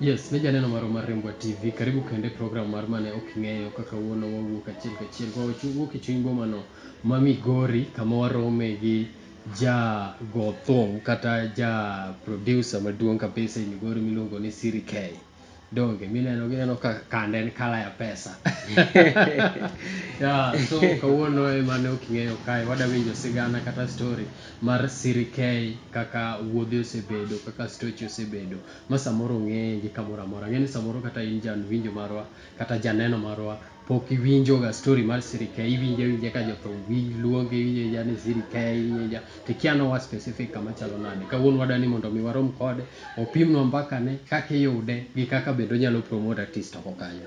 Yes, ne janeno marwa mar Rembwa TV. Karibu kende program mar mane ok ing'eyo kaka wuono wawuok achiel kachiel. Kwa wachu wuok e chuny boma no ma Migori kama warome gi ja gothong kata ja producer maduong kabisa e Migori miluongo ni Siri K. Donge mineno gineno ka kande en kala ya pesa. yeah, so kawuono e mane ok ing'eyo kae wada winjo sigana kata story mar sirikei kaka wuodhe osebedo, kaka stoche osebedo ma samoro ong'eyegi kamoro amora. Ang'eyo ni samoro kata in ja winjo marwa kata janeno marwa pok iwinjoga story mar sirikei, iwinje awinja ka jothum luonge, iwinje awinja ni sirikei, iwinje awinja to ikia ni oa specific kama chalo nade. Kawuono wadwa ni mondo mi warom kode, opimnwa mbakane, kaka iyude gi kaka bende onyalo promote artist oko kanyo.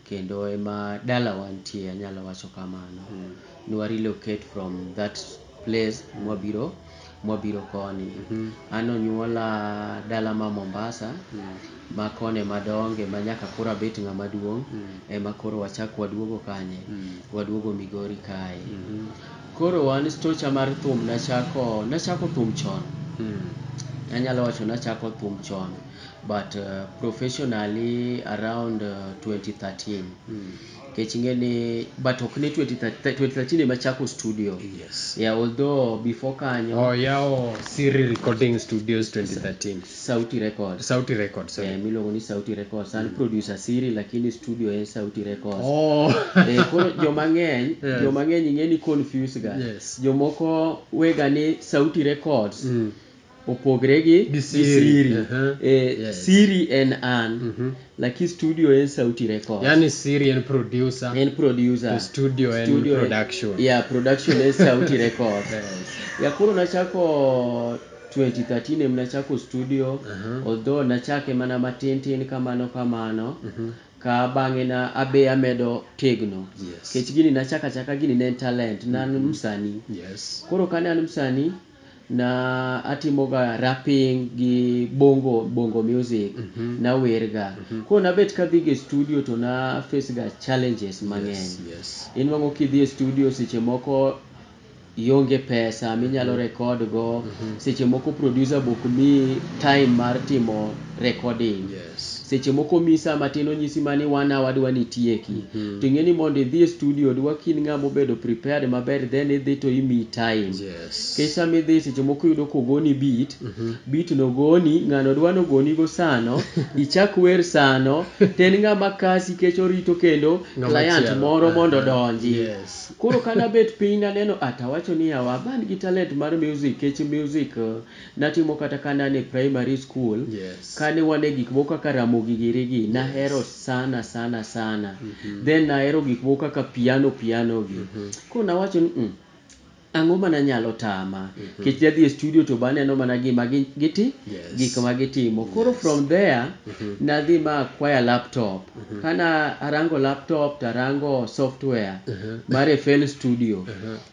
Kendo ema dalawa nitie anyalo wacho kamano. Ne wa relocate from that place mwabiro mwabiro koni. An onyuola dala ma Mombasa ma koni ema adonge ma nyaka koro abet ng'ama duong' ema koro wachak waduogo kanye, waduogo Migori kae. Koro an stocha mar thum nachako nachako thum chon. Anyalo wacho nachako thum chon. but professionally around 2013 kech inge ni but ok ne 2013 ema chako studio yes. yeah, although before kanyo oh, yawo siri recording studios 2013 sauti record sauti record sorry yeah, miluongo ni sauti record san mm. producer siri lakini studio en sauti record oh. eh, koro joma ng'eny yes. joma ng'eny ing'e ni confuse ga yes. jomoko wega ni sauti records mm. opogre gi gi siri. E, siri en an, lakini studio en Sauti Records. Yani siri en producer. En producer. To studio en studio production. En, yeah, production en Sauti Records. yes. Ya koro nachako 2013 em nachako studio. Uh -huh. Although nachake mana matin tin kamano kamano. Uh mhm. -huh ka bang'e na abe amedo tegno yes. kech gini nachaka chaka gini ne en talent nan mm -hmm. msani yes. koro kane an msani Na atimo ga rapping gi bongo bongo music na wer ga. Koro na bet ka adhi ga e studio to na face ga challenges mang'eny. Inwang'o ki idhi e studio seche moko ionge pesa mi inyalo record go, seche moko producer be ok miyi time mar timo recording, seche moko omiyi sa matin onyisi mana ni one hour dwa ni itieki. To ing'e ni mondo idhi e studio dwa ka in ng'a ma obedo prepared maber then idhi to imiyi time. Nikech sama idhi seche moko iyudo kogoni beat, beat no ogoni, ng'ano dwa nogoni go sano, ichak wer sano, to en ng'ama kasi nikech orito kendo client moro mondo odonji. Koro kane abet piny naneno ah to awacho ni yawa ma an gi talent mar music nikech music natimo kata kane an e primary school, kane wan e gik moko kaka Ramogi giri gi, nahero sana sana sana. Then nahero gik moko kaka piano piano gi. Koro nawacho ni mm. Ang'o mana nyalo tama. Nikech dhi adhiya e studio to be aneno mana gima gi giti gik ma gitimo. Koro from there nadhi ma acquire laptop. Kana arango laptop to arango software mar FL Studio.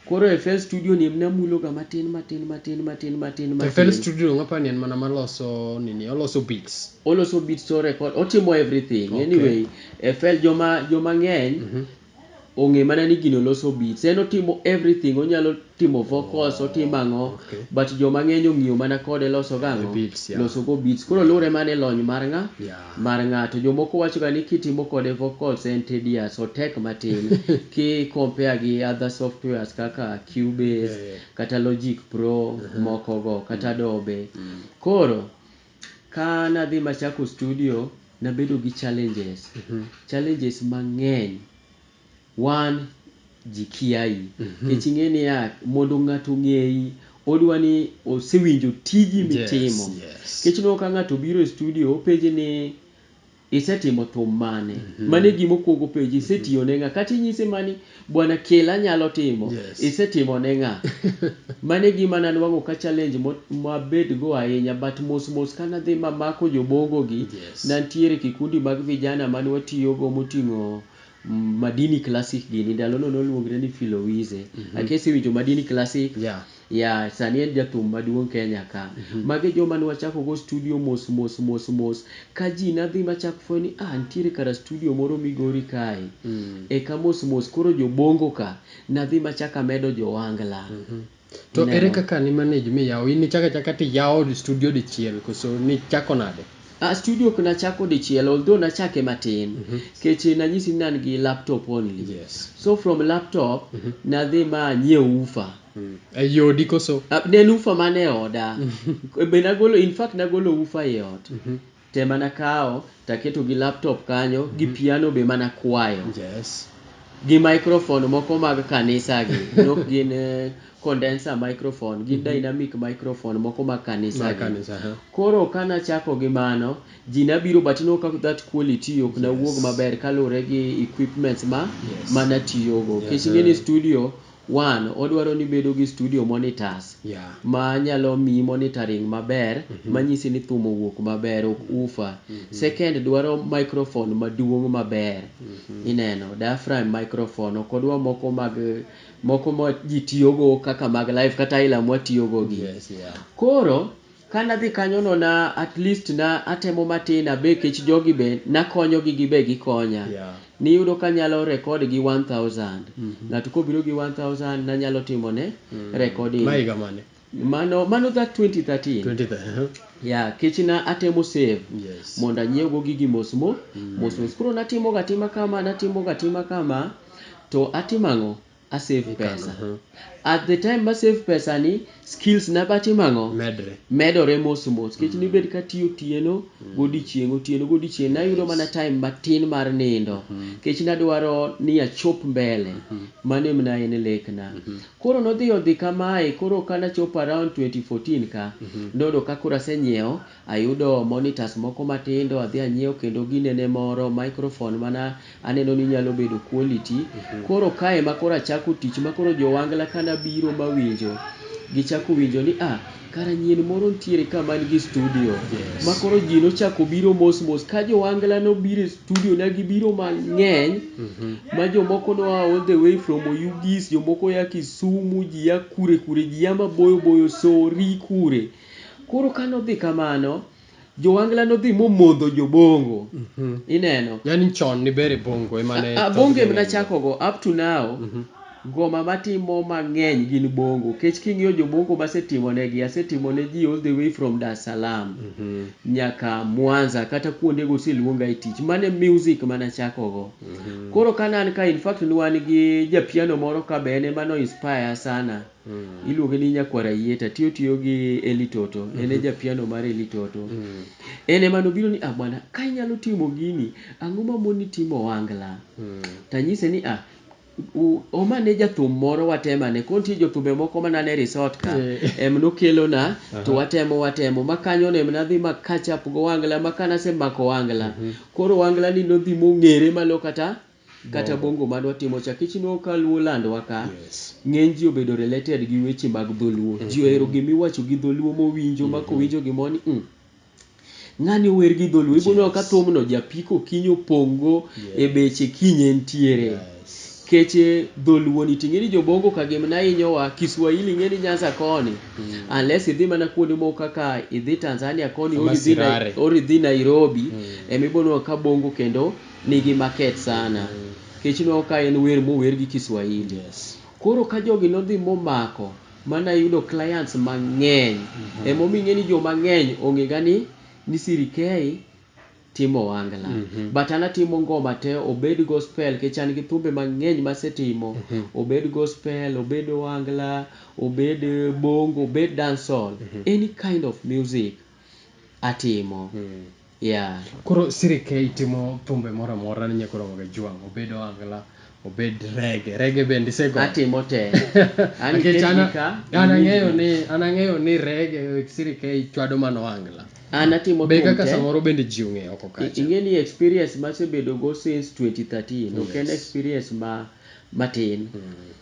Koro FL Studio ni emne amulo ga matin matin matin matin matin matin. To FL Studio donge apani en mana maloso nini, oloso beats? Oloso beats to o record, otimo everything. Anyway, FL joma joma ng'eny. ong'e mana ni gino loso beats. En otimo everything, onyalo timo vocals, otimo ang'o, but joma ng'eny ong'iyo mana kode loso go ang'o, loso go beats. Koro luwore mana ni lony mar ng'a, mar ng'a. To jomoko wacho ga ni kitimo kode vocals en tedious, otek matin ki compare gi other softwares kaka Cubase, kata Logic Pro moko go, kata Adobe. Koro. Ka nadhi machako studio, nabedo gi challenges. Challenges mang'eny. One, ji kiayi. Nikech ing'e niya, mondo ng'ato ong'eyi, odwa ni osewinjo tiji mitimo. Nikech ineno ka ng'ato obiro e studio, openji ni, Isetimo thum mane? Mano e gima okuongo openji. Isetiyo ne ng'a? Kata inyise mana ni bwana kel anyalo timo. Yes. Isetimo ne ng'a? Mano e gima nanwang'o ka challenge mo mabed go ahinya but mos mos ka nadhi mamako jobongo gi, Yes. nantiere kikundi mag vijana mane watiyo go moting'o Madini Classic gini. Ndalo no noluongre ni Filowize. Ake isewinjo Madini Classic? Yeah. Yeah, sani en jathum maduong' Kenya ka. Mago e joma ne wachako go studio mos mos mos mos. Ka ji ne dhi machak fwenyo ni ah nitiere kara studio moro Migori kae. Eka mos mos koro jo Bongo ka ne adhi machako amedo jo Wangla. To ere Ineno? kaka ni manage miyawo? In ichako achaka to iyawo studio dichiel koso nichako nade? Ah, studio ok nachako dichiel although nachake matin. Nikech nanyisi ni ne an gi laptop only. Yes. So from laptop, nadhi ma anyiewo woofer. Ei odi koso? Ne en ufa man e oda. Be nagolo, in fact nagolo ufa ei ot te mana kawo to aketo gi laptop kanyo gi piano be mana kwayo. Yes. Gi microphone moko mag kanisa gi, ne ok gin condenser microphone, gin dynamic microphone moko mag kanisa gi. Mag kanisa, aha. Koro ka nachako gi mano, ji ne biro but ineno ka that quality ok ne wuog maber kaluwore gi equipments ma, ma natiyogo. Nikech ing'e ni studio. One, odwaro ni ibedo gi studio monitors Yeah. ma nyalo miyi monitoring maber manyisi ni thum owuok maber ok ufa. Second dwaro microphone maduong' maber ineno diaphragm microphone ok odwa moko mag moko ma ji tiyogo kaka mag live kata aila mwatiyogo gi. Yes, yeah. Koro Ka nadhi kanyo no na at least na atemo matin a be kech jogi be nakonyo gi gibe gikonya. Niyudo ka nyalo record gi one thousand. Ng'ato kobiro gi one thousand nanyalo timo ne recording. Ma higa mane? Mano mano that twenty thirteen. Twenty thirteen. Yeah kech na atemo save mondo anyiew go gigi mos mo mos mos. Koro natimo ga atima kama natimo ga atima kama to atimo ang'o? a save pesa. At the time ma save pesa ni, skills na ba timo ang'o? Medre. Medore mos mos. Nikech mm. nibed katiyo otieno mm. godiechieng', otieno godiechieng', nayudo mana time matin mar nindo. Nikech mm-hmm. nadwaro ni achop mbele. Mm-hmm. Mano em na en lekna. Mm-hmm. Koro nodhi odhi kamae, koro ka nachopo around 2014 ka, noyudo ka koro asenyiewo Ayudo monitors moko matindo adhi anyiew kendo ginene moro microphone mana aneno ni nyalo bedo quality. Koro ka ema koro achako tich ma koro jo Wangla ka nabiro mawinjo gichako winjo ni ah kara nyien moro nitiere ka man gi studio ma koro ji nochako biro mos mos ka jo Wangla nobiro e studio na gibiro mang'eny ma jomoko noa all the way from Oyugis, jomoko oya Kisumu, ji ya kure kure, ji ya maboyo boyo, Sori kure. Koro ka nodhi kamano, Jowangla nodhi momodho Jobongo. Ineno? Yani chon ni bere Bongo ema ne A, Bongo em nachakogo up to now. Ngoma matimo mang'eny gin Bongo. Kech king'iyo Jobongo masetimonegi, asetimo ne ji all the way from Dar es Salaam nyaka Mwanza kata kuondego oseluonga e tich. Mano e music ma nachakogo. Koro ka ne an ka, in fact ne wan gi ja piano moro ka be en ema no inspire ya sana. Iluonge ni Nyakwar Ayieta. Tiyo tiyo gi Eli Toto. En e ja piano mar Eli Toto. En ema nobiro ni ah bwana ka inyalo timo gini, ang'o ma moni timo ohangla? To anyise ni ah, hom ane jathum moro watem ane. Koro nitie jothumbe moko mane an e resort ka, em nokelona to watemo watemo. Ma kanyono em nadhi ma catch up gi ohangla ma kane asemako ohangla, koro ohangla ni nodhi mong'ere ma nokata. kata Bongo. bongo mane watimo cha nikech ineno ka luo land wa ka Yes. ng'eny ji obedo related gi weche mag dholuo ji ohero gima iwacho gi dholuo mowinjo ma kowinjo gimoro ni "Mm, ng'ani ower gi dholuo iboneno ka Yes. thumno japiko okinyi opong'go e Yes. beche kiny entiere Yes. keche dholuo ni ting'e ni jobongo ka gimna hinyowa kiswahili ing'e ni nyanza koni unless idhi mana kuonde moko kaka idhi Tanzania koni Ama or idhi Nai- Sirare. or idhi Nairobi ema iboneno ka bongo kendo nigi market sana kech ineno ka en wer mower gi Kiswahili. Koro ka jogi nodhi momako mana yudo clients mang'eny emomiyo ing'e ni joma ng'eny ong'e ga ni ni Siri K timo ohangla. But an atimo ngoma te obed gospel kech an gi thumbe mang'eny masetimo obed gospel, obed ohangla, obed bongo, obed dancehall, any kind of music atimo. Yeah. Koro siri ka itimo thumbe moro amora ni nyaka oromo ga jwang', obed ohangla, obed reggae, reggae bende isegoyo? Atimo te. An Nikech iket an gi ka, an iwinj ang'eyo gi. ni an ang'eyo ni reggae siri ka ichwado mana ohangla. An atimo Be thum kaka te. samoro bende ji ong'eyo oko I- kacha. Ing'e ni experience masebedo go since 2013 ok en Yes. experience ma matin.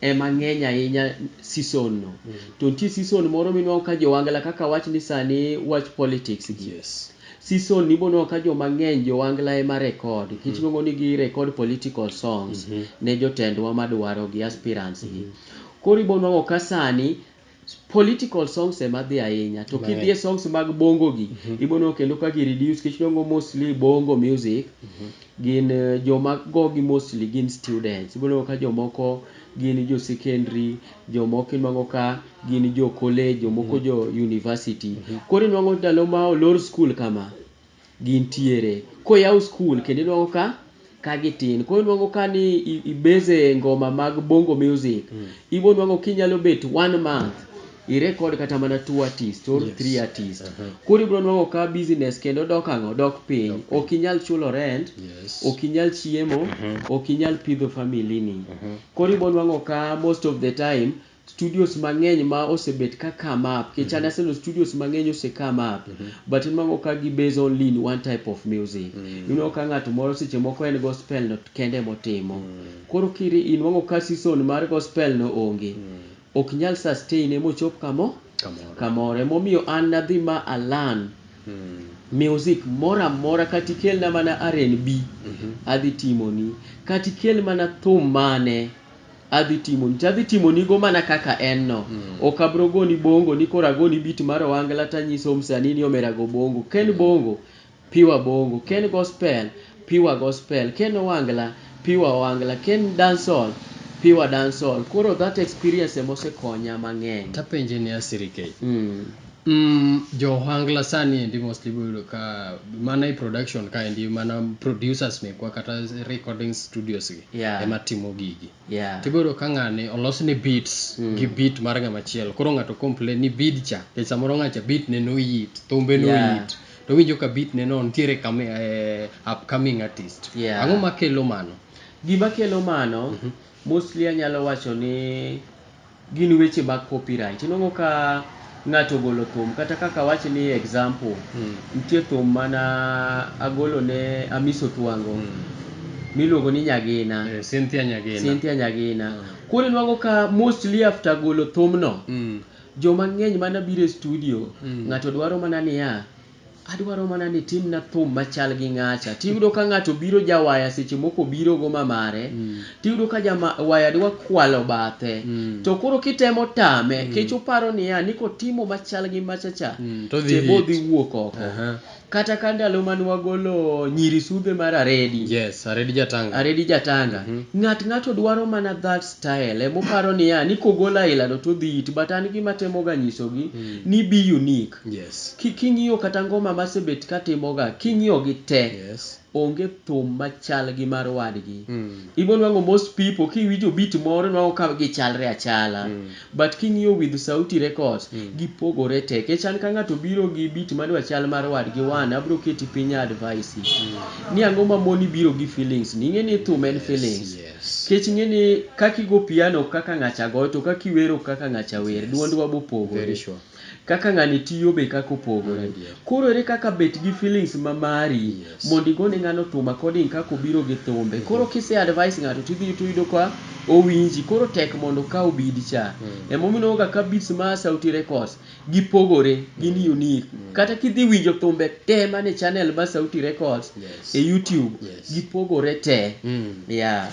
ema ng'eny ahinya season no. To nitie season moro minwang'o ka jowangla kaka awach ni sani wach politics gi. Season ni ibonwang'o ka joma ng'eny jowangla ema record nikech inuang'o ni gi record political songs ne jotendwa madwarogi, aspirants gi. Koro ibonwang'o ka sani Political songs ema dhi ahinya to kidhi e songs mag bongo gi ibo neno kendo ka gi reduce nikech idwa neno mostly bongo music gin joma gogi mostly gin students. Ibo neno ka jomoko gin jo secondary, jomoko inwang'o ka gin jo college, jomoko jo university. Koro inwang'o ndalo ma olor skul kama, gintiere. Koyaw skul kendo inwango ka ka gitin. Koro inwango ka ni i base e ngoma mag bongo music, ibo nwango kinyalo bet one month i record kata mana two artist or three artist. Koro ibro nwango ka business kendo dok ang'o? Dok piny. Ok inyal chulo rent, ok inyal chiemo, ok inyal pidho family ni. Koro ibo nwango ka most of the time, studios mangeny ma osebet ka come up kech an aseneno studios mangeny ose come up but inwango ka gi base only in one type of music inwango ka ngato moro seche moko en gospel no kende ema otimo koro inwango ka season mar gospel no onge ok nyal sustain e mochop kamo kamoro ema omiyo an nadhi ma a learn music moro amora kata ikelna mana RNB adhi timoni kata ikel mana thum mane Adhi timoni to adhi timonigo mana kaka en no. Ok abro goni bongo ni koro agoni beat mar Ohangla to anyiso msanii ni omera go bongo. Ka en bongo, pure bongo. Ka en gospel, pure gospel. Ka en Ohangla, pure Ohangla. Ka en dancehall, pure dancehall. Koro that experience ema osekonya mang'eny. To apenje ni Asiri Kate. Umm jo ohangla sani endi mostly ibiro yudo ka mana e production kaendi mana producers mekwa kata recording studios gi Yeah. ema timo gigi. Yeah. To ibiro yudo ka ng'ani olosne beats gi beat mar ng'ama chielo. Koro ng'ato complain ni bead cha nikech samoro ng'acha beat ne noyit, thumbe Yeah. noyit. To owinjo ka beat ne no nitiere kama eh, upcoming artist. Yeah. Ang'o makelo mano? Gima kelo mano mostly anyalo wacho ni Gin weche mag copyright. Inongo ka ng'ato ogolo thum kata kaka awach ni example, nitie thum mana agolo ne Amisi Otwango miluongo ni Nyagina. Cynthia Nyagina. Cynthia Nyagina. Koro inwango ka mostly after golo thumno, joma ng'eny mana biro e studio, ng'ato dwaro mana niya, Adwaro mana ni itimna thum machal gi ng'acha. Tiyudo ka ng'ato biro jawaya seche moko obiro goma mare, tiyudo ka jawaya dwa kwalo bathe. To koro kitemo tame, kech oparo niya ni kotimo machal gi machacha, te bo dhi wuok oko. Kata ka ndalo mane wagolo Nyiri Sudhe mar Aredi. Yes, Aredi Jatanga. Aredi Jatanga. Ng'at ng'ato dwaro mana that style. Ema oparo niya ni kogolo aila no to odhi hit but an gima atemo ga nyisogi ni be unique. Yes. Ki king'iyo kata ngoma masebet katimoga king'iyogi te Yes. onge thum machal gi mar wadgi. Ibonwang'o most people kiwinjo beat moro inwang'o ka gichalre achala but king'iyo with Sauti Records gipogore te kech an ka ng'ato obiro gi beat madwa chal mar wadgi one abro keti piny a advice ni ang'o mamoni biro gi feelings ni. Ing'eni thum en feelings. Yes. Kech ing'eni kaki go piano ok kaka ng'acha goyo to kaki wero ok kaka ng'acha wer. Yes. Duondwa bopogore. Very sure. Kaka ng'ani tiyo be kaka opogore. Koro ere kaka bet gi feelings ma mari mondo igone ng'ano thum according kaka obiro gi thumbe. Koro kise advise ng'ato to idhi to iyudo ka owinji. Koro tek mondo okaw bead cha. Emomiyo ineno ga ka beads ma a Sauti Records gipogore, gin unique. Kata kidhi winjo thumbe te man e channel mar Sauti Records e YouTube, gipogore te. Yeah.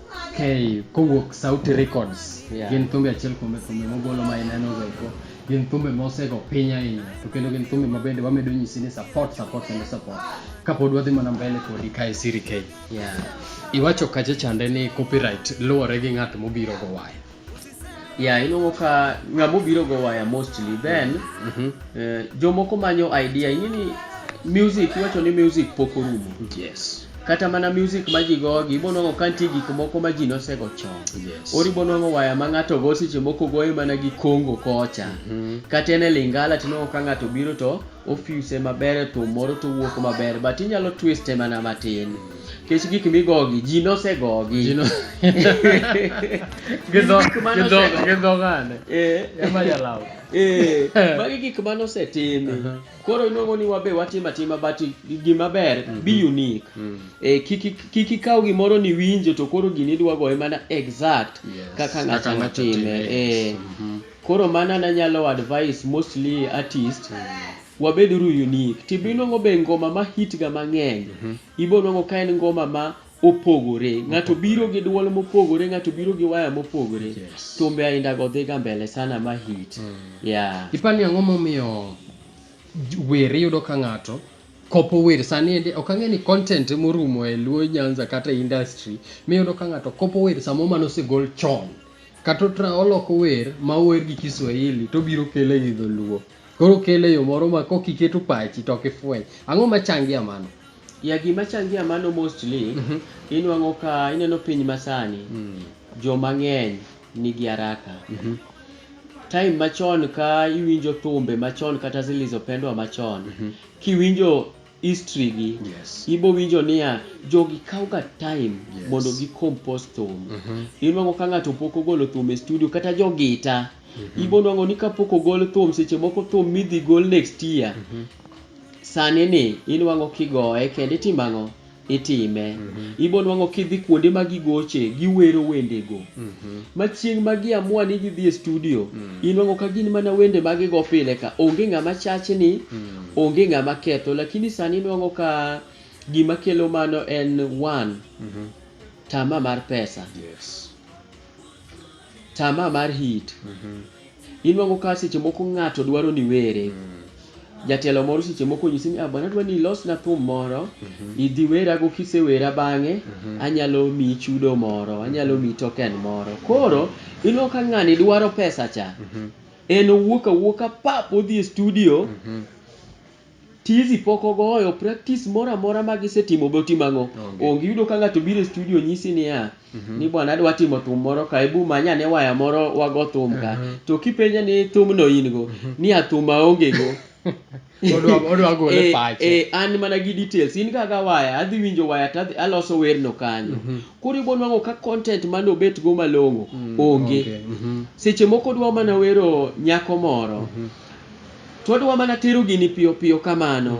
Okay, kowuok Sauti Records yeah. gin thumbe achiel kuom thumbe mogolo ma ineno go eko gin thumbe mosego piny ahinya to kendo gin thumbe ma bende wamedo nyisi ni support support kendo support kapod wadhi mana mbele kodi ka e Siri K yeah. iwacho kacha chande ni copyright luwore gi ng'at mobiro go waya Yeah, iluongo ka ng'ama obiro go waya mostly then mm -hmm. eh, jomoko manyo idea ing'e ni music iwacho ni music pok orumo yes kata mana music ma ji gogi ibonwang'o ka nitie gik moko ma ji nosego chon yes. or ibonwang'o waya ma ng'ato go seche moko goye mana gi kongo kocha mm -hmm. kata en e lingala tinwang'o ka ng'ato biro to ofuse maber e thum moro to wuok maber but inyalo twiste mana matin mm -hmm. Kech gik migogi, ji nosegogi. Ji no- Gi dho- Gik mane gi dho- ose- gi dho ng'ane? Eh. Ema jalaw. Eh, magi gik mane osetimi Aha. koro inuongo ni wabe watimo atima but gima ber be unique Mm. Eh, kik ik- kik ikaw gimoro ni winjo to koro gini idwa goye mana exact Yes. kaka ng'ato Kaka ng'ato notime time, Eh, yes. Mhm. koro mana nanyalo advice mostly artist wabeduru unique tibo inwang'o be ngoma ma hit ga mang'eny mhm. ibo nwang'o ka en ngoma ma opogore ng'ato biro gi dwol mopogore ng'ato biro gi waya mopogore thumbe ainda go dhiga mbele sana ma hit mm. yeah. ipani ang'o momiyo wer iyudo ka ng'ato kopo wer sani ende ok ang'e ni content morumo e luo nyanza kata industry miyudo ka ng'ato kopo wer samo mano osegol chon kata oloko wer ma ower gi kiswahili to biro kele gi dholuo Koro kele yo moro ma kok iketo pachi to ok ifweny. Ang'o ma changi a mano? Ya gima changi a mano mostly mhm. inwang'o ka ineno piny masani mm. jo mang'eny nigi haraka. Mhm. Time machon ka iwinjo thumbe machon kata zilizopendwa machon mhm. kiwinjo history gi yes. ibo winjo niya jogi kawo ga time yes. mondo gi compose thum mm -hmm. inwango ka ng'ato pok ogolo thum e studio kata jogita mm -hmm. ibo nwango ni kapok ogol thum seche moko thum midhi gol next year mm -hmm. sani ni inwango kigoye kendo itimang'o itime mm -hmm. ibo nwango kidhi kuonde ma gigoche giwero wendego mm -hmm. ma chieng' ma giamua ni gidhi e studio mm -hmm. inwango ka gin mana wende ma gigo pile ka onge ng'ama chach ni mm -hmm. Onge ng'ama ketho lakini sani nwang'o ka gima kelo mano en one mm -hmm. tama mar pesa yes. tama mar hit mm -hmm. inwang'o ka seche moko ng'ato dwaro ni were mm -hmm jatelo moro seche moko nyisi ni ah, bwana dwa ni ilosna thum moro mm -hmm. idhi werago kisewera bang'e mm -hmm. anyalo miyi chudo moro anyalo miyi token moro koro inwang'o ka ng'ani dwaro pesa cha mm -hmm. En owuok awuoka pap odhi e studio. Tizi pok ogoyo, practice moro amora ma gisetimo be otimo ang'o? Onge. Onge. Iyudo ka ng'ato biro e studio onyisi niya, ni bwana adwa timo thum moro ka, ebu many ane waya moro wago thum ka. To kipenje ni thumno in go? Niya thum aonge go. Odwa odwa gole Eh, pache. eh, an mana gi details in ga ga waya adhi winjo waya to adhi aloso werno kanyo koro ibo nwang'o ka content mane obet go malong'o onge onge, mhm. seche moko odwa mana wero nyako moro to odwa mana tero gini piyo piyo kamano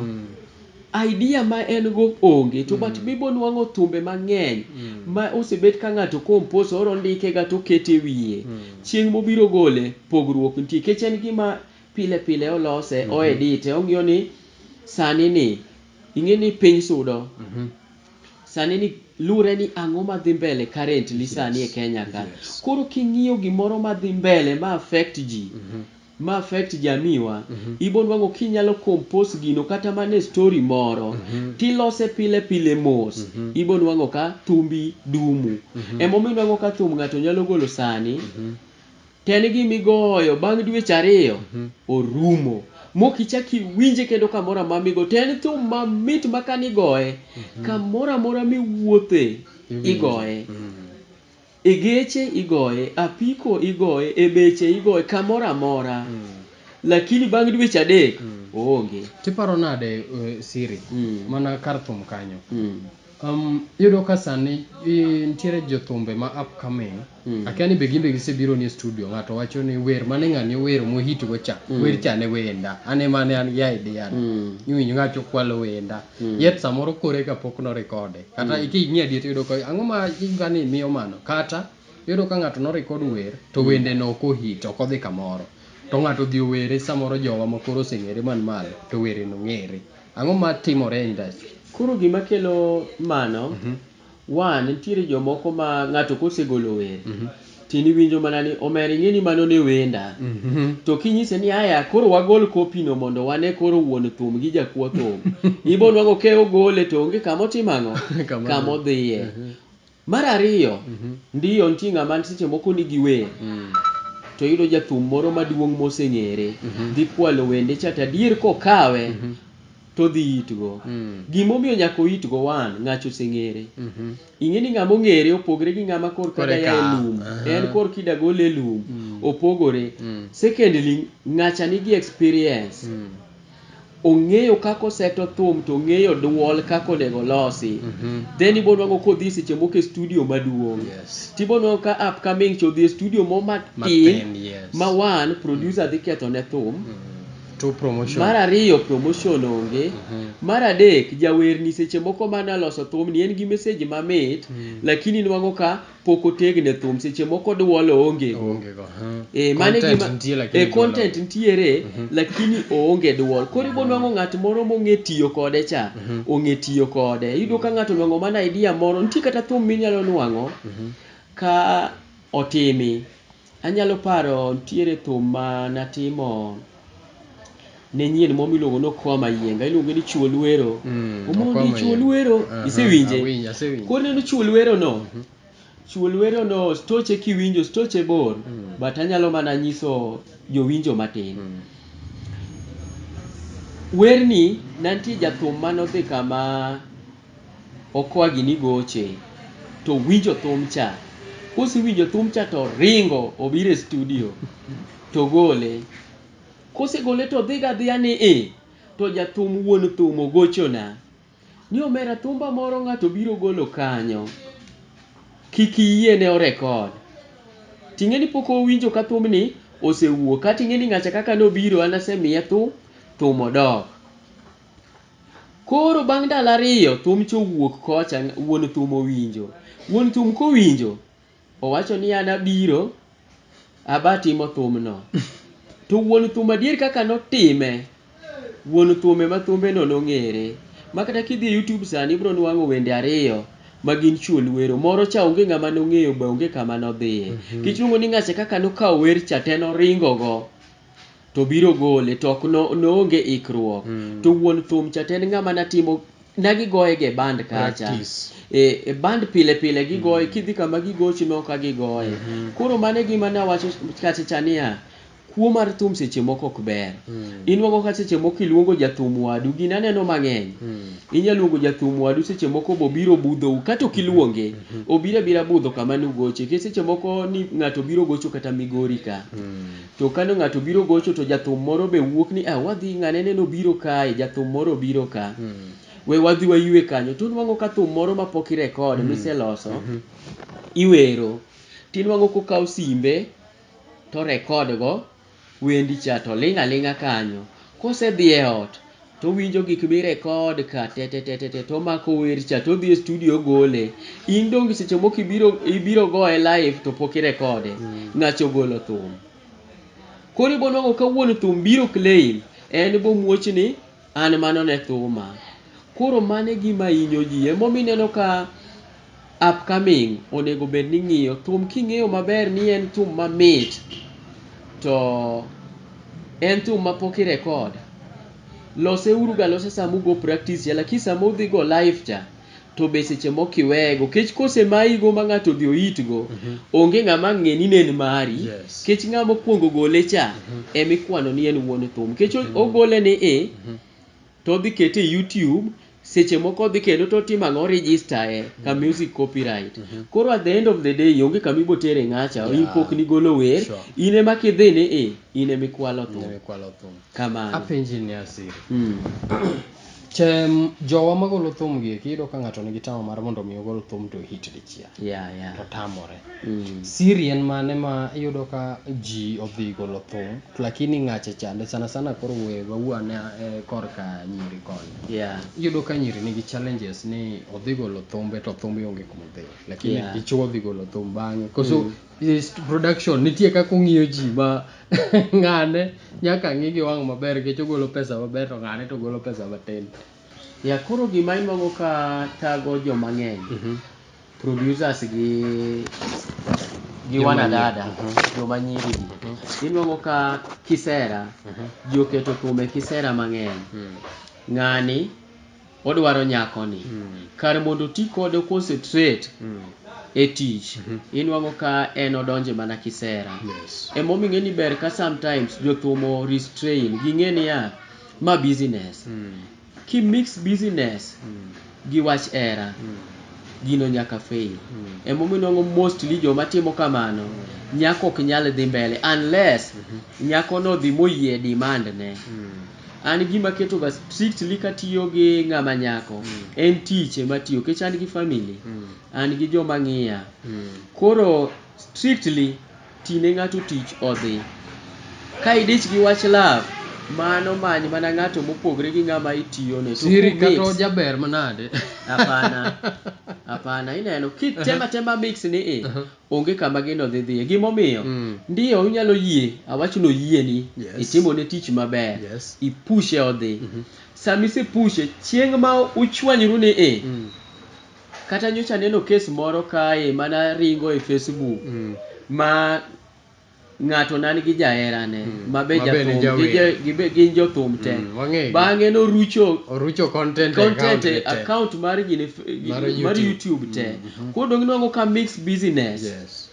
idea ma en go onge to but bibo nwang'o thumbe mang'eny ma osebet ka ng'ato compose oro ndike ga to okete wiye chieng' mobiro gole pogruok nitie nikech en gima Pile pile olose, o edite, ong'iyo ni sani ni ing'e ni piny sudo. Sani ni lure ni ang'o ma dhi mbele currently sani e Kenya ka. Koro king'iyo gimoro ma dhi mbele ma affect ji, ma affect jamii wa, ibonwang'o kinyalo compose gino kata mana e story moro, tilose pile pile mos, ibonwang'o ka thumbi dumu. Emomiyo inwang'o ka thum ng'ato nyalo golo sani, Ken gi migoyo bang dweche ariyo orumo mok ichak iwinje kendo kamoro amora migo to en thum mamit ma kane igoye kamoro amora miwuothe igoye, e geche igoye, apiko igoye, e beche igoye kamoro amora lakini bang dweche adek oonge. To iparo nade siri mana kar thum kanyo. Iyudo ka sani nitiere jothumbe ma upcoming, akia ni be gin be gisebiro ni e studio, ng'ato wacho ni wer mane ng'ani owero mo hit go cha, wer cha ne wenda. An ema ne an gi idea no. Iwinjo ng'a cha okwalo wenda. Yet samoro kore ka pok no recode. Kata king'iyo adier tiyudo ka ang'o ma ngani miyo mano? Kata, iyudo ka ng'ato no record wer, to wende no ok o hit, ok odhi kamoro. To ng'ato odhi owere samoro jowa ma koro oseng'ere man malo, to were no ng'ere. Ang'o ma timore e industry? Koro gima kelo mano, one, nitiere jomoko ma ng'ato kosegolo wer, to in iwinjo mana ni omera ing'e ni mano ne wenda. To kinyise ni aya koro wagol copy no mondo wane koro wuon thum gi jakwo thum, ibo nwang'o ka ogole to onge kama otimo ang'o? Kama odhiye. Mar ariyo, ndiyo nitie ng'ama seche moko nigi wer to oyudo jathum moro maduong' moseng'ere dhi kwalo wende cha to adier kokawe to odhi itgo. Gima omiyo nyaka oitgo one, ng'acha oseng'ere. Ing'e ni ng'ama ong'ere opogore gi ng'ama korka da ya e lum. En korka ida gole e lum. Opogore. Secondly, ng'acha nigi experience. Ong'eyo kaka oseto thum to ong'eyo duol kaka onego olosi. Then ibo nwango ka odhi seche moko e studio maduong'. To ibo nwango ka upcoming cha odhi e studio moro matin ma one, producer dhi kethone thum. Mar ariyo promotion onge. Mar adek jawerni seche moko mane oloso thumni en gi message mamit lakini inwango ka. pok otegne thum seche moko duol oonge go Oonge go. huh. Eh, mano e Content gima- nitie lakini eh, duol content onge. nitiere lakini oonge duol koro ibonwang'o ng'at moro mong'e tiyo kode cha ong'e tiyo kode iyudo ka ng'ato onwang'o mana idea moro nitie kata thum minyalo nwang'o ka otimi Anyalo paro nitiere thum ma natimo ne nyien moro miluongo ni Okoa Mayienga, iluonge ni Chuo Lwero. Mm, Omondi Okoa Chuo Mayienga. Lwero, Aha, isewinje? awinje, asewinje. Koro ineno Chuo Lwero no, Chuo Lwero no stoche kiwinjo, stoche bor, Mm. but anyalo mana nyiso jowinjo matin. Mm. Werni nantie jathum manodhi kama Okwagi ni goche to winjo thum cha, kosewinjo thum cha to ringo obiro e studio to gole. Kosegole to odhiga adhiya ni i, to jathum wuon thum ogochona ni omera thumba moro ng'ato biro golo kanyo, kik iyiene o record. Ting'e ni pok owinjo ka thumni osewuok, kating'e ni ng'acha kaka nobiro an asemiye thum, thum odok. Koro bang' ndalo ariyo thumcha owuok kocha wuon thum owinjo. Wuon thum kowinjo owacho ni an abiro aba timo thumno. To wuon thum adier kaka notime, wuon thum ema thumbeno nong'ere. Ma kata kidhi e YouTube sani ibiro nwang'o wende ariyo ma gin Chuol Wero. Moro cha onge ng'ama nong'eyo be onge kama nodhiye. Nikech iluongo ni Ng'acha kaka nokawo wer cha te noringo go. to biro gole to ok no, noonge ikruok mm. to wuon thum cha to en ng'ama natimo nagigoye ge band kacha e, e band pile pile gigoye mm. kidhi kama gigochi no ka gigoye mm -hmm. koro mane gima nawacho kacha cha niya kuo mar thum seche moko ok ber mm. inwago ka seche moko iluongo jathum wadu gin aneno mang'eny mm. inyalo luongo jathum wadu seche moko bobiro budhou kata ok iluonge mm -hmm. obiro abira budho kama nugoche ke seche moko ni ng'ato biro gocho kata migori ka mm. To kane ng'ato obiro gocho to jathum moro be wuok ni ah wadhi ng'ane neno obiro kae, jathum moro obiro ka. We wadhi wayue kanyo. To onwang'o ka thum moro ma pok irecord miseloso iwero. To inwang'o kokawo simbe to o record go wendi cha to oling' aling'a kanyo. Kosedhi e ot. to owinjo gik mi record ka tetetetete to omako wer cha to odhi e studio ogole in donge seche moko ibiro ibiro goye live to pok irekode ng'acha ogolo thum koro ibo nwango ka wuon thum biro claim en bo muoch ni an mano ne thuma koro mano e gima hinyo ji emomiyo ineno ka Upcoming onego bed ni ng'iyo thum king'eyo maber ni en thum mamit to en thum ma pok i record, lose uru ga losa sama ugo practice cha lakini sama udhi go live cha to be seche moko iweyego nikech kose mayi go ma ng'ato odhi ohit go onge ng'ama ang' ng'e ni ne en mari Yes. nikech ng'ama okuongo gole cha ema ikwano ni en wuon thum nikech ogole ni i to odhi kete e YouTube seche moko odhi kendo to otimo ang'o register e ka mm-hmm. music copyright mm-hmm. koro at the end of the day onge kama ibo tere ng'acha in pok ni golo wer in ema kidhi ni e in ema ikwalo thum kamano apenji ni asiri hmm. tem jowa magolo thum gi kiyudo ka ng'ato nigi tama mar mondo mi ogol thum to hit dichiel yeah, yeah. to tamore mm. siri en mane ma iyudo ka ji odhi golo thum lakini ng'ache chande sana sana koro we wawuo ane eh, korka nyiri koni Yeah. iyudo ka nyiri nigi challenges ni odhi golo thumbe to thumbe onge kuma odhi lakini Yeah. dichuo odhi golo thum bang'e koso is production nitie kaka ong'iyo ji ma ng'ane nyaka ng'i gi wang' maber nikech ogolo pesa maber to ng'ane to ogolo pesa matin Yeah koro gima inwago ka thago joma ng'eny, producers gi gi Joma nyiri. wanadada, Mhm. joma nyiri gi. Mhm. Inwago ka kisera, Mhm. ji oketo kuome kisera mang'eny. Mm. Ng'ani odwaro nyakoni. Mm. Kar mondo oti kode o concentrate Mm. e tich, Mhm. inwago ka en odonje mana kisera. Yes. Emomiyo ing'e ni ber ka sometimes jothum o restrain, ging'e niya, Ma business. Ki mix business gi wach hera, gino nyaka fail. Ema omiyo inwango mostly joma timo kamano, nyako ok nyal dhi mbele unless nyako no odhi moyie demand ne. An gima aketo ga strictly katiyo gi ng'ama nyako, en tich ema atiyo nikech an gi family, an gi joma ng'iya. Koro strictly. Ti ne ng'ato tich odhi. Ka idich gi wach love, mano many mana ng'ato mopogre gi ng'ama itiyone. To Siri kata kumix, ojaber manade. apana, apana, ineno, kitem atema mix ni i, Aha. onge kama gino dhi dhiye. Gimomiyo, Mm. ndiyo inyalo yie, awach ni oyieni, Yes. itimone tich maber, Yes. ipushe odhi. Mhm. Sama isepushe, chieng' ma uchwanyru ni i, Mm. Kata nyocha aneno kes moro kae mana ringo e Facebook ma ng'ato nan gi jaherane ma be Mabe ne jathum, gi ja- jawer. gi be- gin jothum te. Mm, wang'egi. Bang'e norucho Orucho content e account content e gi te. account mar gine f- gi- Mar mar YouTube. YouTube te. Koro dong' inwang'o ka mix business Yes.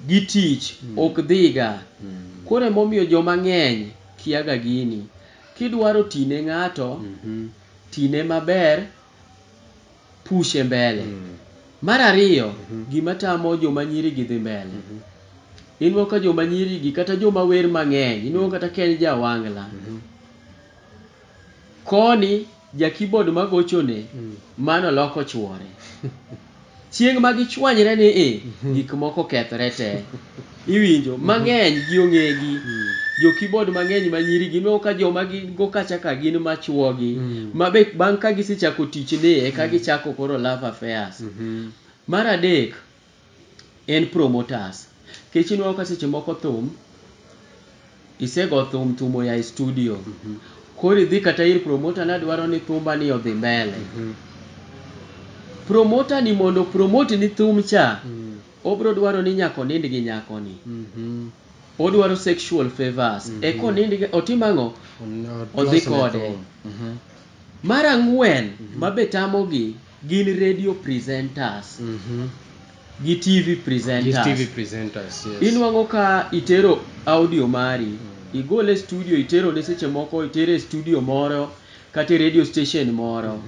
gi tich ok dhiga. Koro emomiyo joma ng'eny kiaga gini. Kidwaro tine ng'ato, tine maber pushe mbele. Mar ariyo gima tamo joma nyiri gi dhi mbele, ineno ka joma nyiri gi kata joma wer mang'eny ineno kata ka en ja wangla, koni ja keyboard magochone mano loko chuore. Chieng' ma gichwanyre ni i, gik moko kethre te. Iwinjo? Mang'eny gi ong'egi. Jo keyboard mang'eny ma nyiri gi ineno ka joma gin go kacha ka gin ma chwo gi ma be bang' ka gisechako tich ni e ka gichako koro love affairs. Mar adek en promoters. Nikech ineno ka seche moko thum. Isego thum thum oya e studio koro idhi kata ir promoter ni adwaro ni thumba ni odhi mbele. Promoter ni mondo o promote ni thum cha obiro dwaro ni nyaka onind gi nyako ni. Odwaro sexual favours eka onind gi otim ang'o? Odhi kode. Mar ang'wen ma be tamogi. Gin radio presenters gi TV These presenters. TV presenters, yes. Inwang'o ka itero audio mari, igole e studio iterone seche moko itere e studio moro kata e radio station moro.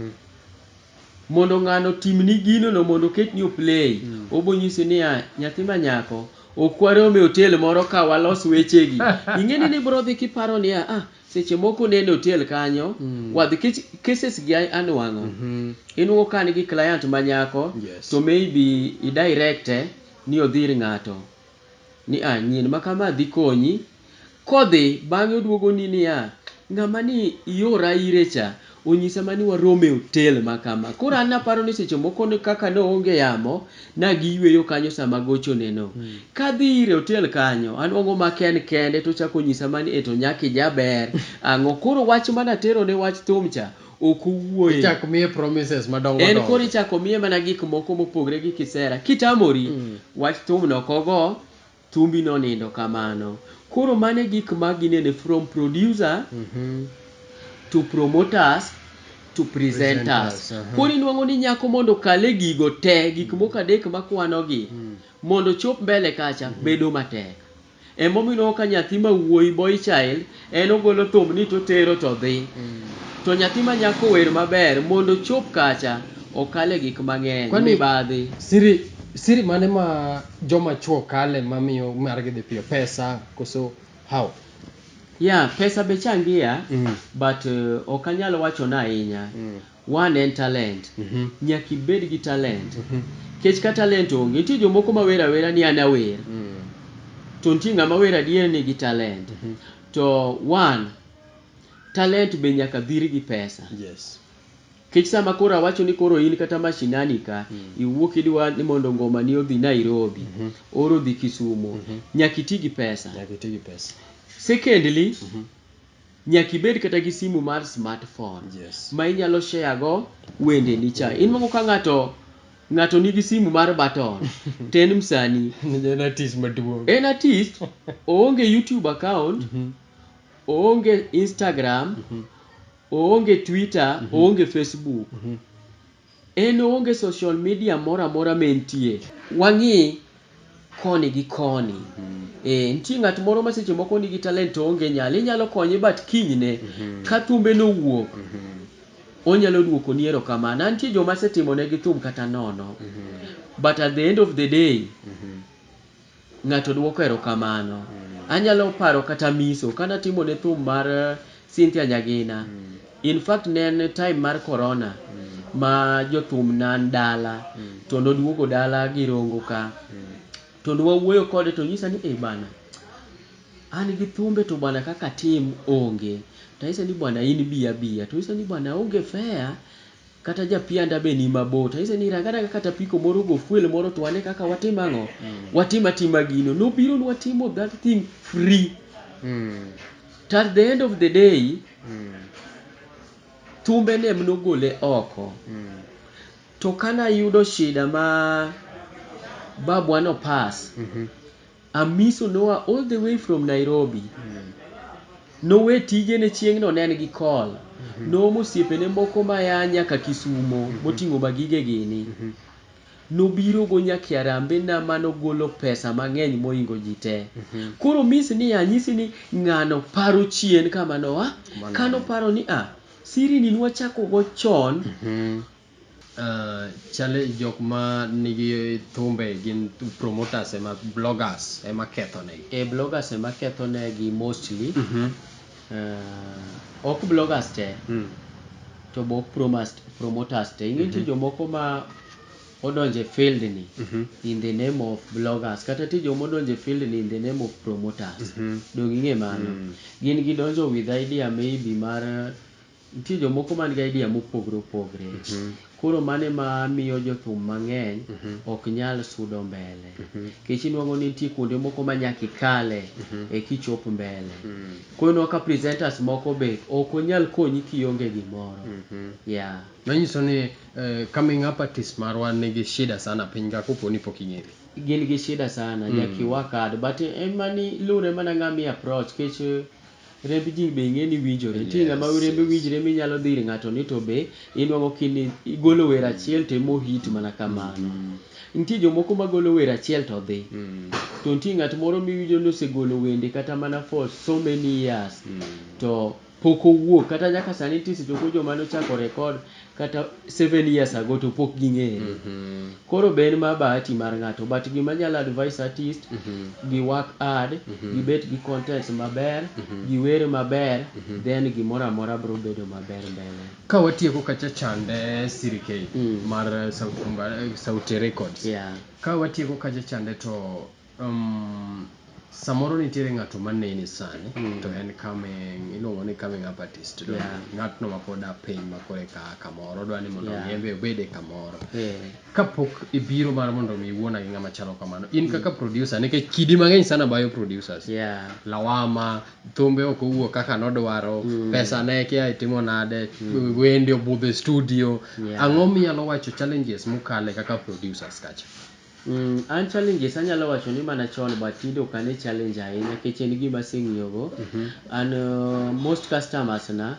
Mondo ng'ano otimni ginono mondo oketni o play, obonyisi niya, nyathi ma nyako, ok warom e otel moro ka walos wechegi. Ing'eni nibro dhi kiparo niya, ah, Seche moko ne en e otel kanyo wadhi kech cases gi anuang'o inuo ka an gi client ma nyako to maybe i direct e ni odhi ir ng'ato ni a nyin ma kama dhi konyi. Kodhi bang'e oduogo ni niya ng'ama ni iora ire cha Onyisa ma ni warom e otel ma kama. Koro an naparo ni seche moko kaka ne oonge yamo, nagiyueyo kanyo sama agochoneno. Kadhi ire e otel kanyo, anwang'o ma ken kende to ochako onyisa ma ni e to nyako ijaber, ang'o. Koro wach ma naterone wach thum cha, ok owuoye. Ichak miye promises madongo dongo. En koro ichako miye mana gik moko mopogre gi kisera. Kitamori, wach thum no ok ogo, Thumbi nonindo kamano. Koro mano e gik ma ginene from producer to promoters to presenters. Koro inwang'o ni nyako mondo okal e gigo te, gik moko adek makwano gi, mondo ochop mbele kacha bedo matek. Emomiyo inwang'o ka nyathi ma wuoyi, boy child, En ogolo thumbni to otero to dhi. To nyathi ma nyako wer maber mondo ochop kacha okale gik mang'eny, Kwani- mibadhi. Siri siri mane ma joma chuo kale ma miyo margi dhi piyo? Pesa koso how? Yeah, pesa be changia Mm. but uh, ok anyal wacho na ahinya. Mm. One en talent. Nyaka ibed gi talent. Nikech ka talent onge, nitie jomoko ma wer awera ni an awer. To nitie ng'ama wer adier ni gi talent. To one, talent be nyaka dhir gi pesa. Nikech sama koro awacho ni koro in kata mashinani ka, iwuok idwa ni mondo ngoma ni odhi Nairobi, or odhi Kisumo, nyaka iti gi pesa. Secondly, Nyaka ibed kata gi simu mar smart phone yes. ma inyalo share go wende ni cha. In moko ka ng'ato ng'ato nigi simu mar button to en msani. en artist maduong'. En artist, oonge YouTube account, mm -hmm. oonge Instagram, mm -hmm. oonge Twitter, mm -hmm. oonge Facebook. Mm -hmm. En onge social media moro amora ma entie. Wang'i koni gi koni. Eeh, nitie ng'at moro ma seche moko nigi talent to oonge nyalo. Inyalo konye but kinyne ka thumbe no owuok, onyalo duokoni erokamano. An nitie joma asetimonegi thum kata nono but at the end of the day, Ng'ato dwoko erokamano. Anyalo paro kata miso kane atimo ne thum mar Cynthia Nyagina, in fact ne en time mar Corona ma jothum ne an dala to noduogo dala gi Rongo ka to ne wawuoyo kode to onyisa ni eh bana an gi thumbe to bana kaka atim onge to anyise ni bana in bi abiya to onyisa ni bana aonge fare Kata japianda be ni mabor to anyise ni rang anaga kata apiko moro go fuel moro to wane kaka watim ang'o, watim atima gino. Nobiro nwatimo that thing free. To at the end of the day, thumbe ne em nogole oko. To kane ayudo shida ma babwa no pass, Amiso noa all the way from Nairobi. Nowe tijene chieng'no ne en gi call. Noomo osiepene moko ma ya nyaka Kisumo moting'o ma gige gini. Nobiro go nyaka e arambe na ma nogolo pesa mang'eny mohingo ji te. Koro miss ni anyisi ni ng'ano paro chien kama noa, kano paro ni a, siri ni nwachako go chon. Chale jok ma nigi thumbe gin promoters ema bloggers ema ketho negi. Ee bloggers ema ketho negi mostly. Ok bloggers te to be ok promoters te. Ing'e nitie jomoko ma odonjo e field ni in the name of bloggers kata nitie joma odonjo e field ni in the name of promoters. Donge ing'e mano. Gin gidonjo with idea maybe mar Nitie jomoko man gi idea mopogre opogre. Koro mano ema miyo jothum mang'eny ok nyal sudo mbele. Nikech inwang'o ni nitie kuonde moko ma nyaka ikale eka ichop mbele. Koro ineno ka presenters moko be ok onyal konyi kionge gimoro. Yeah. Manyiso ni coming up artists marwa nigi shida sana piny ka kopo ni pok ing'ere. Gin gi shida sana, nyaka i work hard. But ema ni lure mana ng'ama i approach nikech. Remb ji be ing'e ni winjore. Nitie yes, ng'ama rembe yes. winjre minyalo dhi ir ng'ato ni to be inwang'o kini igolo wer achiel to emo hit mana kamano. Mm -hmm. Nitie jomoko magolo wer achiel to dhi. Mm -hmm. To nitie ng'at moro miwinjo ni osegolo wende kata mana for so many years. Mm -hmm. To pok owuok kata nyaka sani nitie seche moko joma nochako rekod kata seven years ago to pok ging'ere. Koro be en ma bahati mar ng'ato but gima anyalo advise artist gi work hard, gibet gi contents maber, giwer maber then gimoro amora biro bedo maber mbele. Ka watieko kacha chande Siri K mar Sauti Records, ka watieko kacha chande to Um, samoro nitiere ng'ato maneni sani mm. to en coming iluongo ni coming up artist to yeah. ng'atno ma pod apiny ma koro eka kamoro odwa ni mondo yeah. yembe obed e kamoro yeah. kapok ibiro mar mondo mi iwuona gi ng'ama chalo kamano in mm. kaka producer nikech kidi mang'eny sana bayo producers yeah. lawama thumbe ok owuok kaka nodwaro mm. pesa ne kia itimo nade mm. wendi obudho e studio yeah. ang'o miyalo wacho challenges mukale kaka producers kacha Mmh, an challenges anyalo wacho ni mana chon but tinde ok ane challenge ahinya nikech en gima aseng'iyo go. An most customers na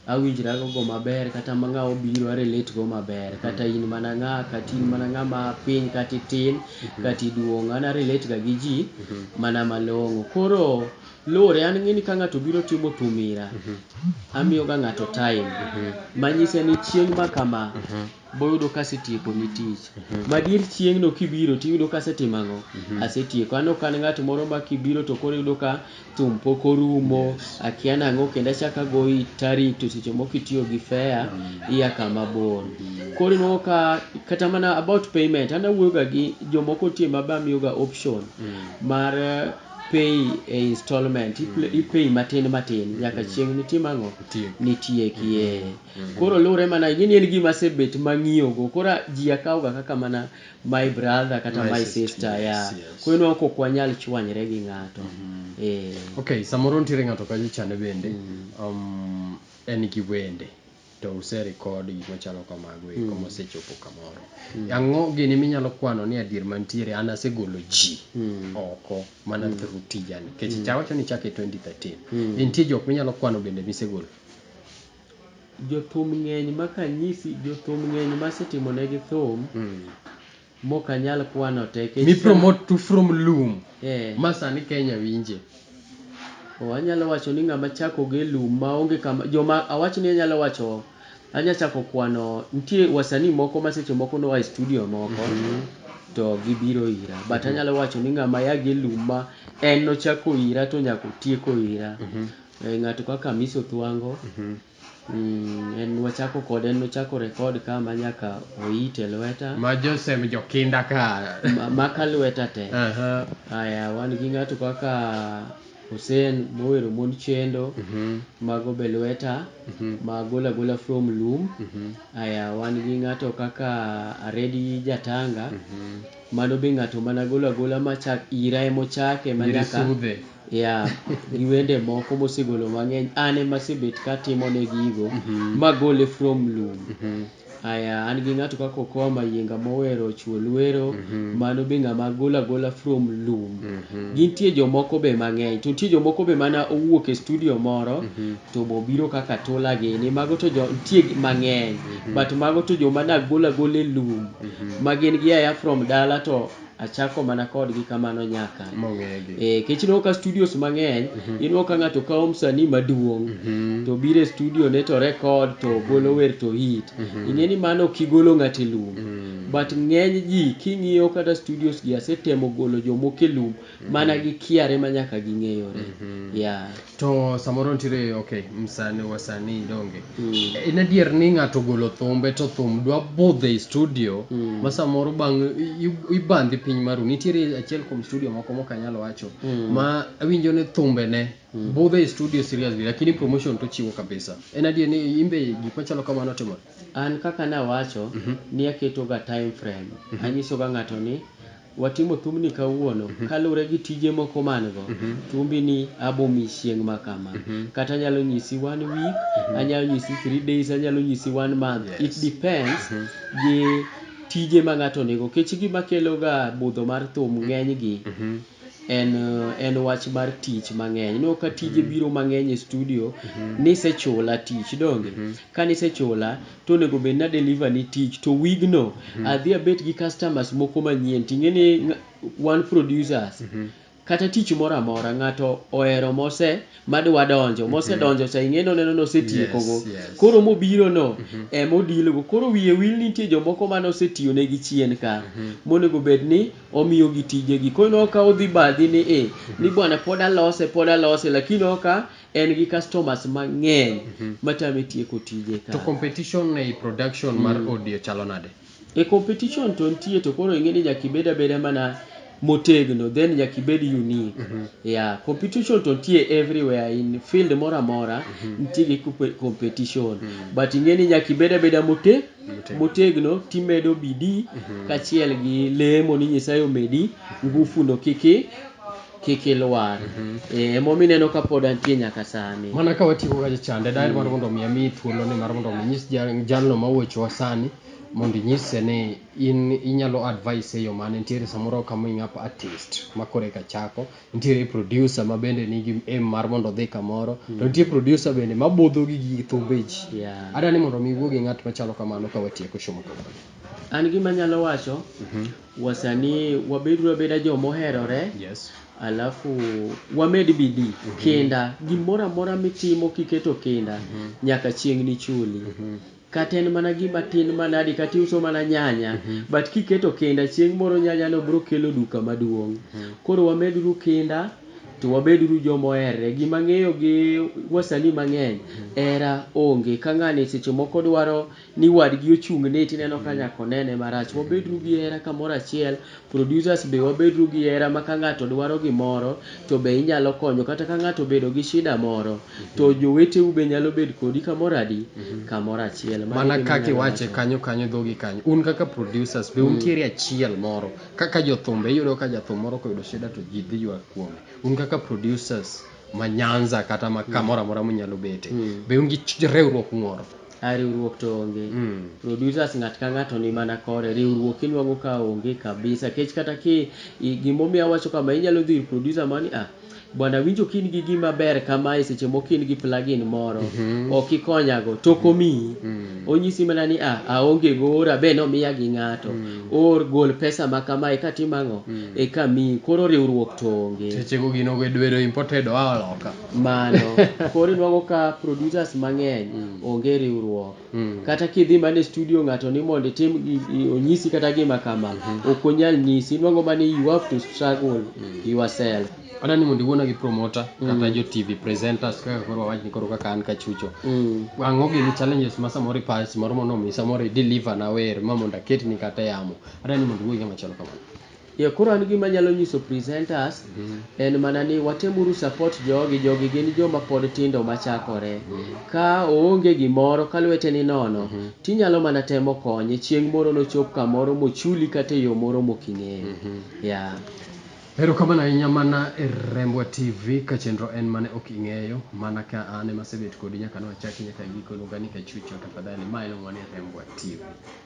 awinjra gogo maber kata ma ng'awa obiro a relate go maber kata in mana ng'a, kata in mana ng'ama piny kata itin kata iduong'. An a relate ga gi ji mana malong'o. Koro luwore, an ing'e ni ka ng'ato obiro timo thum ira, amiyo ga ng'ato time manyise ni chieng' ma kama. boyudo ka asetiekoni tich. Madier chieng'no kibiro to iyudo ka asetimo ang'o? Asetieko. An ok an ng'at moro ma kibiro to koro iyudo ka thum pok orumo, akia ni ang'o kendo achako agoyi tarik to seche moko itiyo gi fare ia kama bor. Koro inuang'o ka kata mana about payment, an awuoyoga gi jomoko nitie ma be amiyoga option mar pay e installment, i pay matin matin nyaka chieng' nitim ang'o? Nitiekie. Koro luwre mana ing'e ni en gima asebet mang'iyogo. Koro a- ji akawoga kaka mana my brother kata My my sister, sister. yes, yeah. yes. Koro ineno kok wanyal chwanyre gi ng'ato. Eh. Okay, samoro nitiere ng'ato kacha chande bende. Um, en gi wende to use record gik machalo kamago eko mosechopo kamoro. Ang'o gini minyalo kwano ni adier mantiere an asegolo ji oko mana through tijani. Nikech icha wacho ni ichake 2013. Nitie jok minyalo kwano bende misegolo. Jothum ng'eny ma kanyisi jothum ng'eny ma asetimo ne gi thum mok anyal kwano te nikech Mi promote to from lum eh, ma sani Kenya winje. oh, anyalo wacho ni ng'ama chako gi e lum ma onge kama joma awach ni anyalo wacho anya chako kwano nitie wasanii moko ma seche moko noa e studio moko to gibiro ira but anyalo wacho ni ng'ama ya gi e lum ma en nochako ira to nyaka otieko ira Eh, ng'ato kaka Miss Othwango mm, en wachako kode en nochako rekod ka ma nyaka oit e lweta Ma Joseph Jokinda ka. ma- maka lweta te Aha. aya wan gi ng'ato kaka Hussein mowero mond chendo Mhm. mago be lweta Mhm. ma gola gola from lum Mhm. aya wan gi ng'ato kaka Aredi Jatanga Mhm. mano be ng'ato mana gola gola machak ira emochake ma Nyiri nyaka sudhe. Yeah, gi wende moko mosegolo mang'eny an ema asebet katimo ne gigo magole from lum. Aya, an gi ng'ato kaka Okoa Mayienga mowero Chuo Lwero, mano be ng'ama agolo agola from lum. Gintie jomoko be mang'eny, to nitie jomoko be mana owuok e studio moro to bobiro kaka tula gini, mago to jo nitie mang'eny but mago to joma nagolo agola e lum ma gin gia aya from dala to achako mana kodgi kamano nyaka e, kech ineno ka studios mang'eny mm -hmm. ineno ka ng'ato kawo msanii maduong' mm -hmm. to biro e studio ne to rekod to mm -hmm. golo wer to hit mm -hmm. ing'e ni mano ok igolo ng'ato e lum mm -hmm. but ng'eny ji king'iyo kata studios gi asetemo golo jomoko e lum mm -hmm. mana gi kiare ma nyaka ging'eyore mm -hmm. yeah. to samoro nitiere ok msanii wasanii donge En adier ni ng'ato ogolo thumbe to thum dwa budho ei studio ma samoro bang' i- ibandhi piny maru. Nitiere achiel kuom studio moko mok anyal wacho ma awinjo ni thumbene budho ei studio seriously lakini promotion to ochiwo kabisa. En adier ni in be gik machalo kamano otimore? An kaka nawacho ni aketoga time frame. Anyisoga ng'ato ni Watimo thumni kawuono kalure gi tije moko man go. Thumbi ni abo mi chieng' ma kama. Kata anyalo nyisi one week, anyalo nyisi three days, anyalo nyisi one month. It depends gi tije ma ng'ato ni go. Kech gima kelo ga budho mar thum ng'eny gi en en wach mar tich mang'eny. Ineno ka tije biro mang'eny e studio, nisechula tich donge? Ka nisechula. to onego bed ni a deliver ni tich to wig no adhi abet gi customers moko manyien to ingeni wan producers kata tich moro amora ngato ohero mose madwa donjo mose donjo cha ingeni oneno ni osetieko go koro mobiro no ema o deal go koro wiye wil ni nitie jomoko mane osetiyo negi chien ka monego bed ni omiyo gi tije gi koro ineno ka odhi badhi ni i ni bwana pod alose pod alose lakini ineno ka en gi customers mang'eny matame tieko tije ka. To competition ei production mar audio chalo nade? E competition to nitie to koro ing'e ni nyaka ibed abeda mana motegno then nyaka ibed unique. Yeah, competition to nitie everywhere in field moro amora nitie gi competition but ing'e ni nyaka ibed abeda motegno timedo bidii kachiel gi lemo ni Nyasaye omedi ngufu no kik i. kik ilwar Eh, ema omiyo ineno ka pod antie nyaka sani mana ka watieko ga chande daher mar mondo mi ami thuolo ni mar mondo mi inyis jal- jalno ma wuochowa sani mondo inyise ni in inyalo advice e yo mane nitiere samoro coming up artist ma koro eka chako nitiere producer ma bende nigi aim mar mondo odhi kamoro to nitie producer bende ma budho gi gi thumbe ji Yeah. adwa ni mondo mi iwuo gi ng'at machalo kamano ka watieko show ma kawuono an gima anyalo wacho Wasani wabeduru abeda jo moherore alafu wamed bidii, kinda, gimoro amora mitimo kiketo kinda nyaka chieng' nichuli. Kata en mana gima tin manadi kata iuso mana nyanya but kiketo kinda chieng' moro nyanya no biro kelo duka maduong'. Koro wameduru kinda to wabeduru jo moherre. Gima ang'eyo gi wasani mang'eny hera onge ka ng'ani seche moko dwaro ni wadgi ochung ni tineno ka nyaka onene marach. Wabedru gi hera kamoro achiel, producers be wabedru gi hera ma ka ngato dwaro gimoro to be inyalo konyo kata ka ngato obedo gi shida moro to joweteu be nyalo bedo kodi kamoro adi? kamoro achiel. Mano e gima anyalo wacho. Mana kaka iwache kanyo kanyo dhogi kanyo, un kaka producers be untiere achiel moro kaka jothumbe iyudo ka jathum moro koyudo shida to jii dhi ywak kuome, un kaka producers ma Nyanza kata ma kamoro amora munyalo bete be un gi riwruok moro? A riwruok to onge. Producers ng'at ka ng'ato ni mana kore. Riwruok inwang'o ka onge kabisa. Nikech kata ki gimomiyo awacho kama, inyalo dhi ir producer moro ni ah, bwana awinjo ka in gi gima ber kamae seche moko in gi plug-in moro, ok ikonyago. To ok omiyi. Onyisi mana ni ah, aonge go, oora be nomiya gi ng'ato. Oor gol pesa ma kamae eka atim ang'o? Eka amiyi. Koro riwruok to onge. Sechego gino be dwero imported oa loka. Mano. Koro inwago ka producers mang'eny onge riwruok. Kata kidhi mana e studio ng'ato ni mondo itim onyisi kata gima kama, ok onyal nyisi. Inwang'o mana ni you have to struggle yourself. Adwa ni mondo iwuona gi promoter kata jo TV presenters kaka koro wawach ni koro kaka an Kachucho. Ang'o gini challenges ma samoro ipa samoro mondo mi samoro i deliver na wer ma mondo aketni kata e yamo. Adwa ni mondo iwuo gi ng'ama chalo kamano. Yeah koro an gima anyalo nyiso presenters en mana ni watem uru support jogi, jogi gin joma pod tindo machakore. Ka oonge gimoro ka lwete ni nono to inyalo mana temo konye chieng' moro nochop kamoro mochuli kata e yoo moro mok ing'eyo. Yeah. Erokamano ahinya mana e Rembwa TV ka chenro en mane ok ing'eyo mana ka an ema asebet kodi nyaka ne wachaki nyaka giko iluonga ni Kachucho tafadhali ma iluongo ni Rembwa TV.